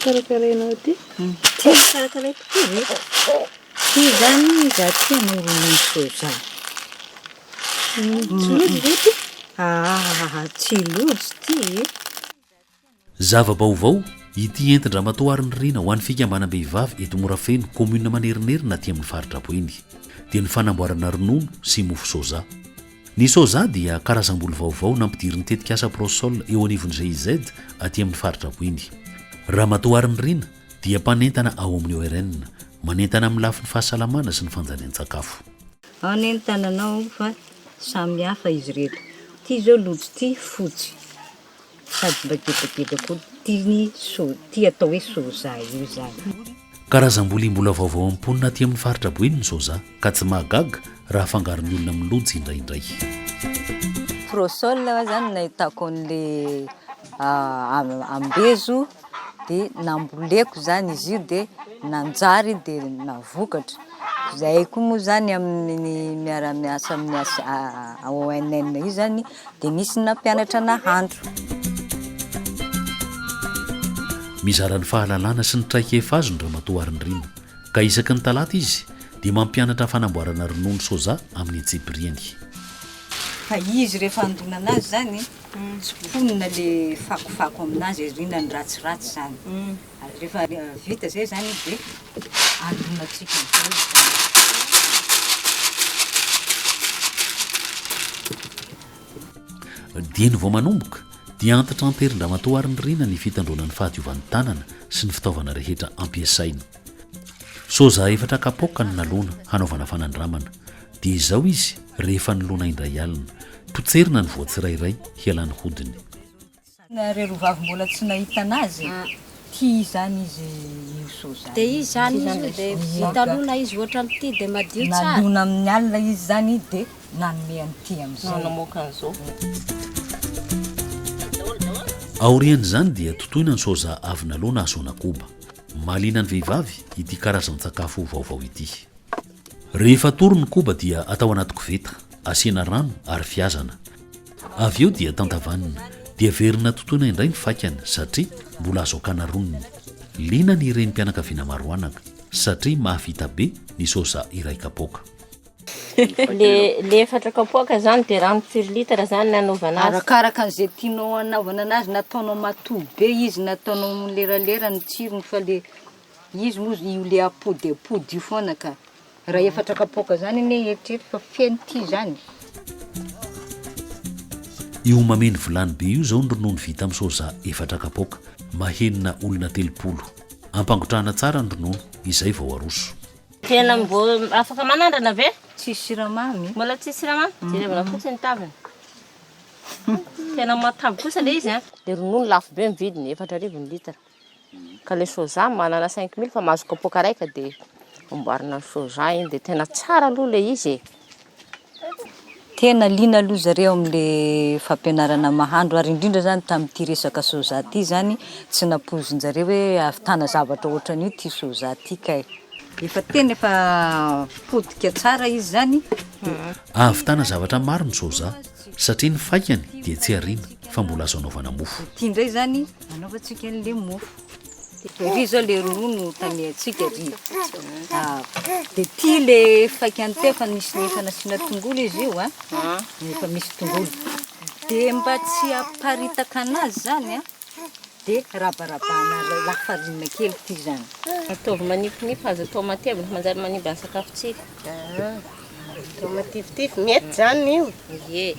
karakarainao ty tsy karakaraiko ty ve tsy zany za tia manao soja Tsy lojy ve ity? Ah, tsy lojy ity e! Zava-baovao, ity entin-dramatoa Arny Rina ho an'ny fikambanam-behivavy eto Morafeno, kaominina Manerinerina aty amin'ny faritra Boeny, dia ny fanamboarana ronono sy mofo soja. Ny soja dia karazam-boly vaovao nampidirin'ny tetikasa Prosol eo anivon'ny GIZ aty amin'ny faritra Boeny. Ramatoa Arny Rina dia mpanentana ao amin'ny ORN, manentana amin'ny lafiny fahasalamana sy ny fanjarian-tsakafo. Ao anie ny tananao fa samy hafa izy ireto. Ity izao lojo ity fotsy sady mba gebageba koa. Ity ny so, ity atao hoe soja io izany. Karazam-bolia mbola vaovao amin'ny mponina aty amin'ny faritra Boeny ny soja ka tsy mahagaga raha afangaron'ny olona amin'ny lojo indraindray. Prosole aho zany nahitako an'le ambezo de namboleko zany izy io de nanjary de navokatra. Zahay koa moa zany amin'ny miara miasa amin'ny ONM io zany dia nisy ny nampianatra nahandro. Mizara ny fahalalana sy ny traikefa azony Ramatoa Harinirina, ka isaky ny talata izy dia mampianatra fanamboarana ronono soja amin'ny antsipiriany. Fa izy rehefa handonana azy zany, tsimponina le fakofako aminazy, ariana ny ratsiratsy zany. Ary rehefa vita izay izany izy dia alonantsika amin'izay izy izany. Dieny vao manomboka dia antitra an-terin-dramatoa Harinirina ny fitandroana ny fahadiovan'ny tanana sy ny fitaovana rehetra ampiasaina. Soja efatra kapoaka no nalona hanaovana fanandramana. Dia izao izy rehefa nolona indray alina. Potserina ny voa tsirairay hialany hodiny. Ry rovavy mbola tsy nahita anazy tia izany izy io soa izany. Dia izy izany izy io dia vita lona izy ohatra amin'ity dia madio tsara. Nalona amin'ny alina izy izany dia nanome an'ity amin'izay. Namoaka an'izao. Aorian'izany dia totoina ny soja avy nalona hasoana koba. Mahaliana ny vehivavy ity karazan-tsakafo vaovao ity. Rehefa atory ny koba dia atao anaty koveta, asiana rano ary fihazana. Avy eo dia tantavanina, dia verina totoina indray ny faikany satria mbola azo akana roniny. Liana ny renim-pianakaviana maro anaka satria mahavita be ny soja iray kapoaka. Le efatra kapoaka zany de rano firy litre zany nanaovana azy? Arakaraka an'izay tianao hanaovana anazy na ataonao matoy be izy na ataonao mileralera ny tsirony fa le izy moa io le apody apody io foana ka. Raha efatra kapoaka zany anie eritrereto fa feno ty zany. Io mameno vilany be io zao ny ronono vita amin'ny soja efatra kapoaka, mahenina olona telopolo. Ampangotrahana tsara ny ronono, izay vao aroso. Tena mbô afaka manandrana ve? Tsisy siramamy? Mbola tsisy siramamy? Jerevana fotsiny ny taviny. Tena matavy kosa le izy an. Le ronono lafo be ny vidiny, efatra arivo ny litre. Ka le soja manana cinq mille fa mahazo kapoaka raika de amboarina ny soja iny de tena tsara aloha le izy e. Tena liana aloha zareo amle fampianarana mahandro ary indrindra zany tamty resaka soja ty zany tsy nampoizinjareo hoe ahavitana zavatra otranio ty soja ty kay. Efa tena efa potika tsara izy zany de. Ahavitana zavatra maro ny soja satria ny faikany dia tsy ariana fa mbola azo anaovana mofo. Ty ndray zany. Anaovantsika an'ilay mofo. Ry izao ilay ronono tamehantsika ry. Ah, dia ity ilay faikany teo fa nisy ny efa nasiana tongolo izy io, an. Ah. Efa misy tongolo. Dia mba tsy haparitaka anazy izany, an, dia rabarabana lafarinina kely ity izany. Ataovy manifinify, azo atao matevina, manjary manimba ny sakafontsika. Ah. Atao matifitify, mety zany io? Ie.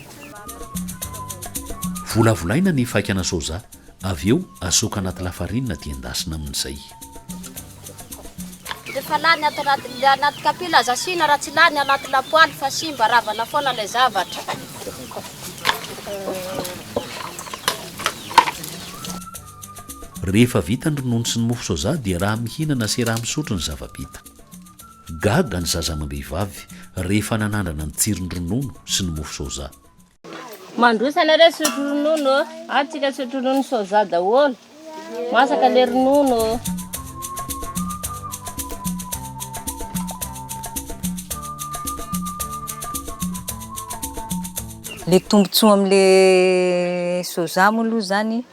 Volavolaina ny faikana soja, avy eo asoaka anaty lafarinina dia endasina amin'izay. Rehefa lany ato anaty anaty kapila aza asiana raha tsy lany anaty lapoaly fa simba, ravana foana ilay zavatra. Rehefa vita ny ronono sy ny mofo soja dia raha mihinana sy raha misotro ny zava-bita. Gaga ny zaza amam-behivavy rehefa nanandrana ny tsiron'ny ronono sy ny mofo soja. Mandroso ianareo sotro ronono ô! Ato tsika sotro ronono soja daholo. Masaka le ronono ô! Le tombotsoa amle soja moa aloha zany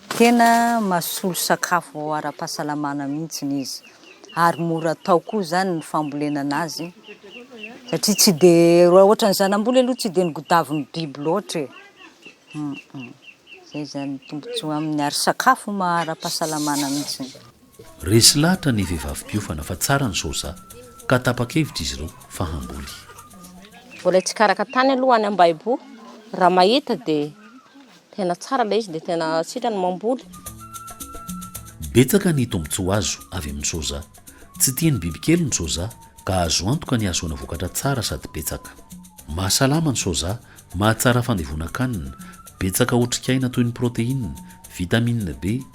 tena masolo sakafo ara-pahasalamana mihitsy izy. ary mora atao koa izany ny fambolena anazy satria tsy de raha ohatra ny zanamboly aloha tsy de ny godavin'ny biby loatra e zay zany tombontsoa aminy ary sakafo mahara-pahasalamana mihitsy resy lahatra ny vehivavy mpiofana fa tsara ny soja ka tapa-kevitra izy ireo fa hamboly mbola hitsikaraka tany aloha any ambaibo raha mahita dia Tena tsara ilay izy dia tena sitrany mamboly. Betsaka ny tombontsoa azo avy amin'ny soja. Tsy tian'ny bibikely ny soja ka azo antoka ny hahazoana vokatra tsara sady betsaka. Mahasalama ny soja, mahatsara fandevonan-kanina, betsaka otrikaina toy ny protéine, vitamine B,